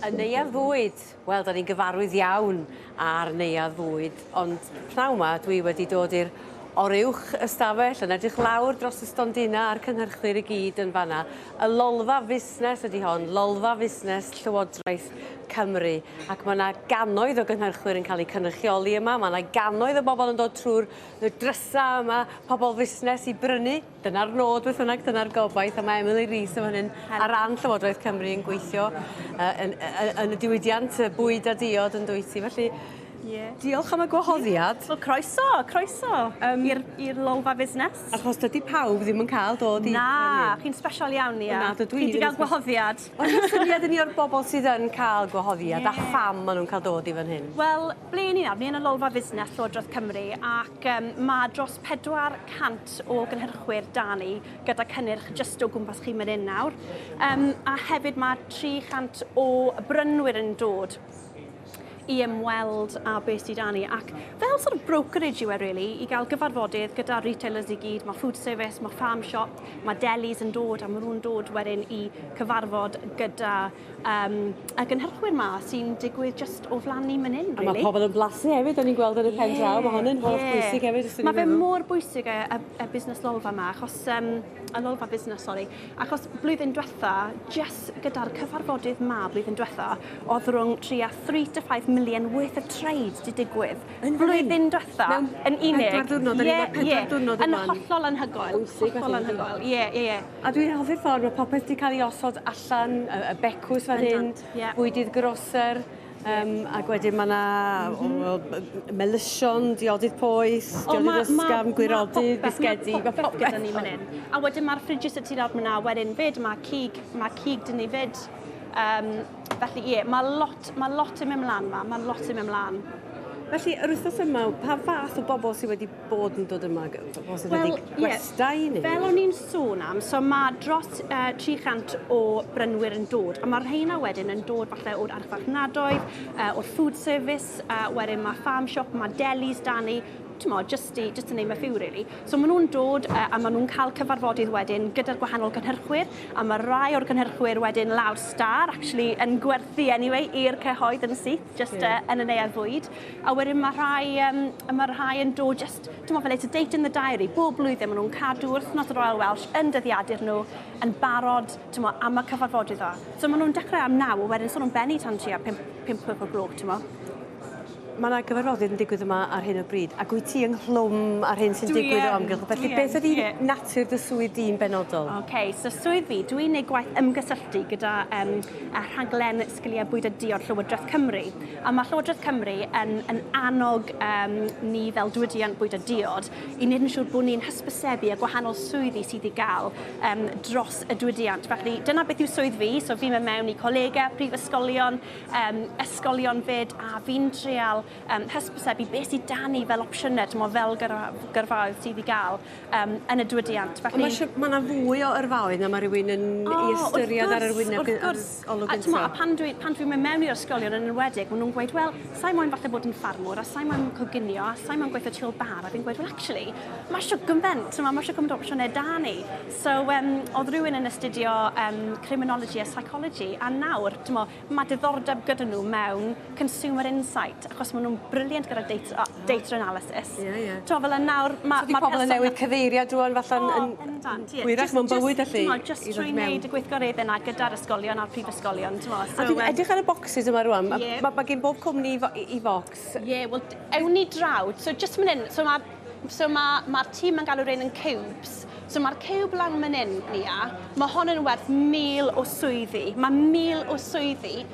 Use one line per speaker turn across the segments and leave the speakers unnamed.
Y Neuadd Fwyd! Wel, 'da ni'n gyfarwydd iawn â'r Neuadd Fwyd, ond pnawn 'ma dwi wedi dod i'r oruwch ystafell yn edrych lawr dros y stondina a'r cynhyrchwyr i gyd yn fanna. Y lolfa fusnes ydy hon, lolfa fusnes Llywodraeth Cymru, ac mae yna gannoedd o gynhyrchwyr yn cael eu cynrychioli yma, mae yna gannoedd o bobl yn dod trwy'r drysau yma, pobl fusnes i brynu Dyna'r nod beth bynnag, dyna'r gobaith, a mae Emily Rees yn fan hyn ar ran Llywodraeth Cymru yn gweithio uh, yn, uh, yn y diwydiant bwyd a diod yn dwyt ti, felly Yeah. Diolch am y gwahoddiad. Wel, croeso,
croeso um, i'r lolfa fusnes. Achos dydy pawb
ddim yn cael dod i... Na, chi'n special
iawn, ia. Na, dydw i. Chi wedi cael gwahoddiad. Ond syniad i ni
o'r bobl sydd yn cael gwahoddiad yeah. a pham maen nhw'n cael dod i fan hyn? Wel, Ble i ni nawr? Ni
yn y Lolfa Fusnes Llywodraeth Cymru ac um, mae dros 400 o gynhyrchwyr da ni gyda cynnyrch jyst o gwmpas chi mynd hyn nawr. Um, a hefyd mae 300 o brynwyr yn dod i ymweld a beth sydd da ni ac fel sort of brokerage yw e really i gael gyfarfodydd gyda retailers i gyd, mae food service, mae farm shop, mae delis yn dod a maen nhw'n dod wedyn i cyfarfod gyda Um, a gynhyrchwyr ma sy'n digwydd just o flan ni man hyn, really. A mae pobl yn blasu hefyd,
o'n i'n gweld yn y pen draw, yeah, mae hwn yn holl yeah. bwysig hefyd. Mae fe mor bwysig
y, y, y busnes lolfa yma, achos, um, y lolfa busnes, sori, achos blwyddyn diwetha, just gyda'r cyfarfodydd ma blwyddyn diwetha, oedd rhwng 3 a 3 to 5 million worth of trade di digwydd. Yn blwyddyn diwetha, yn unig. Pedwar diwrnod, yn yeah,
yeah. diwrnod yn
hollol anhygoel. Hollol anhygoel, ie, ie, ie. A dwi'n hoffi'r ffordd
mae popeth 'di cael ei osod allan, y, y becws fan hyn, yeah. bwydydd groser, um, ac wedyn mae yna mm -hmm. melysion, diodydd poeth, diodydd ysgafn, gwirodydd, bisgedi, mae popeth gyda ni fan hyn. A wedyn
mae'r ffridges y tu lawr fyna, wedyn fyd, mae cig, mae cig dyn ni fyd. Um, felly ie, yeah, mae lot, mae lot yn mynd mlaen yma, mae lot yn mynd mlaen. Felly, yr
wythnos yma, pa fath o bobl sydd wedi bod yn dod yma? Os ydy well, gwestai yeah, neu... Fel o'n i'n sôn
am, so mae dros uh, 300 o brynwyr yn dod, a mae'r rheina wedyn yn dod falle o'r archfarchnadoedd, uh, o'r food service, uh, wedyn mae farm shop, mae delis da ni, tmo, just, i, just to name a few really. So maen nhw'n dod uh, a maen nhw'n cael cyfarfodydd wedyn gyda'r gwahanol gynhyrchwyr a mae rai o'r gynhyrchwyr wedyn lawr star actually yn gwerthu anyway i'r cyhoedd yn syth. just uh, yn y neuadd fwyd. A wedyn mae rhai, um, mae rhai yn dod just, dwi'n meddwl fel it's a date in the diary, bob blwyddyn maen nhw'n cadw wythnos y Royal Welsh yn dyddiadur nhw, yn barod, ti'n meddwl, am y cyfarfodydd o. So maen nhw'n dechrau am naw, a wedyn sôn nhw'n benni tan tua 5, 5 pwyp o gloch, ti'n meddwl.
Mae yna gyfarfodydd yn digwydd yma ar hyn o bryd, ac wyt ti ynghlwm ar hyn sy'n digwydd o amgylch. Felly, beth ydy natur dy swydd di'n benodol? OK, so swydd fi,
dwi'n ei gwaith ymgysylltu gyda um, rhaglen sgiliau bwyd a diod Llywodraeth Cymru. A mae Llywodraeth Cymru yn, yn annog um, ni fel diwydiant bwyd a diod i wneud yn siŵr bod ni'n hysbysebu a gwahanol swyddi sydd i gael um, dros y diwydiant. Felly dyna beth yw swydd fi, so fi'n mynd mewn i colegau, prifysgolion, um, ysgolion fyd, a fi'n treol um, hysbysebu beth sydd dan ni fel opsiynau, dyma fel gyrfaoedd sydd i gael um, yn y diwydiant. Felly... Mae yna
fwy o yrfaoedd na mae rhywun yn oh, ei ystyried ar yr wyneb. Wrth gwrs, A t'mo', a pan dwi pan dwi'n mynd mewn
i'r ysgolion yn enwedig, ma' nw'n gweud, wel, sai moyn falle bod yn ffarmwr, a sai moyn coginio, a sai moyn gweitho tu ôl bar, a fi'n gweud, wel actually, ma' shwt gyment, t'mo' ma' shwt gyment o opsiyne 'da ni. So um, o'dd rywun yn astudio um, criminology a psychology, a nawr, t'mo', ma' diddordeb gyda nhw mewn consumer insight, achos maen nhw'n brilliant gyda data, data analysis. Ie, yeah, ie. Yeah. Ti'n fel y nawr... Ma, so di pobl yn newid
cyfeirio drwy'n falle yn... yn bendant, ie. Gwirach mewn bywyd allu. Ti'n just trwy wneud y
gweithgareddau yna gyda'r ysgolion a'r prifysgolion, ti'n meddwl. So, a dwi'n edrych ar
y boxes yma rwan. Yeah. Mae ma gen bob cwmni i fox. Ie, yeah, wel, ewn
ni drawd. So, just mynd hyn. So, mae'r so ma, ma tîm yn galw rhain yn cubes. So mae'r cube lan mynd hyn, Nia, mae hon yn werth mil o swyddi. Mae mil o swyddi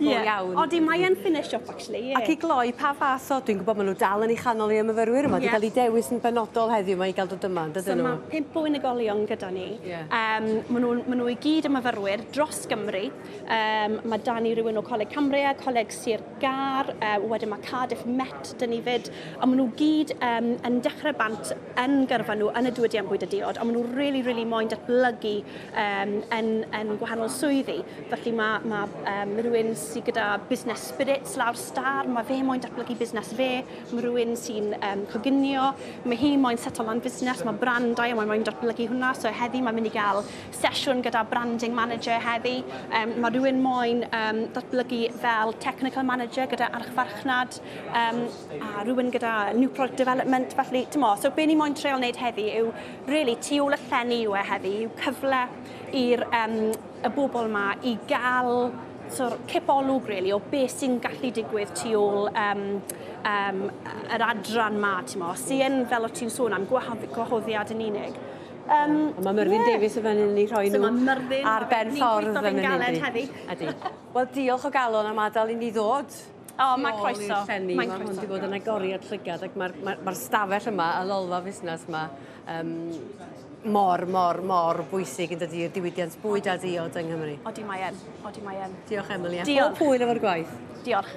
Ie,
iawn. Odi mae yn fine shop
actually ie. Ac i gloi pa
fath o dwi'n gwbod ma' n'w dal yn 'i chanol 'i y myfyrwyr yma 'di ca'l 'i dewis yn benodol heddiw 'ma i ga'l dod yma yndydyn n'w? So ma' pump o unigolion
gyda ni. Ie. Yym ma'
nw'n ma' n'w
i gyd yn myfyrwyr dros Gymru yym ma' 'da ni rywun o Coleg Cambria, Coleg Sir Gâr yy wedyn ma' Cardiff Met 'da ni 'fyd a ma' n'w gyd yym yn dechre bant yn gyrfa nhw yn y diwydiant bwyd a diod, ond maen nhw really, really moyn datblygu um, yn, yn gwahanol swyddi. Felly mae, mae um, rhywun sydd gyda busnes spirits lawr star, mae fe moyn datblygu busnes fe, mae rhywun sy'n um, coginio, mae hi moyn setol lan busnes, mae brandau a mae moyn datblygu hwnna. So heddi mae'n mynd i gael sesiwn gyda branding manager heddi. Um, mae rhywun moyn um, datblygu fel technical manager gyda archfarchnad um, a rhywun gyda new product development, felly, t'mo', so be' ni moyn treial wneud heddi yw rili tu ôl y llenni yw e heddi, yw cyfle i'r um, y bobl yma i gael so'r cipolwg rili o be' sy'n gallu digwydd tu ôl um, um, yr adran ma, ti'n mo, sy'n, fel o ti'n sôn am, gwahoddiad yn unig. Um, mae Myrddin
yeah. Davies yn fan hyn i rhoi so nhw ar ben ffordd yn mynd i.
Ydy. Wel,
diolch o galon am adael i ni ddod. O, oh, mae croeso.
Mae'n croeso. Mae hwn wedi bod
yn agoriad llygad ac mae'r mae, mae stafell yma, y lolfa fusnes yma, um, mor, mor, mor bwysig yn dydy i'r diwydiant bwyd a diod yng Nghymru. Odi mae
en,
odi mae en. Diolch Emily,
a
Diolch. pob hwyl efo'r gwaith. Diolch.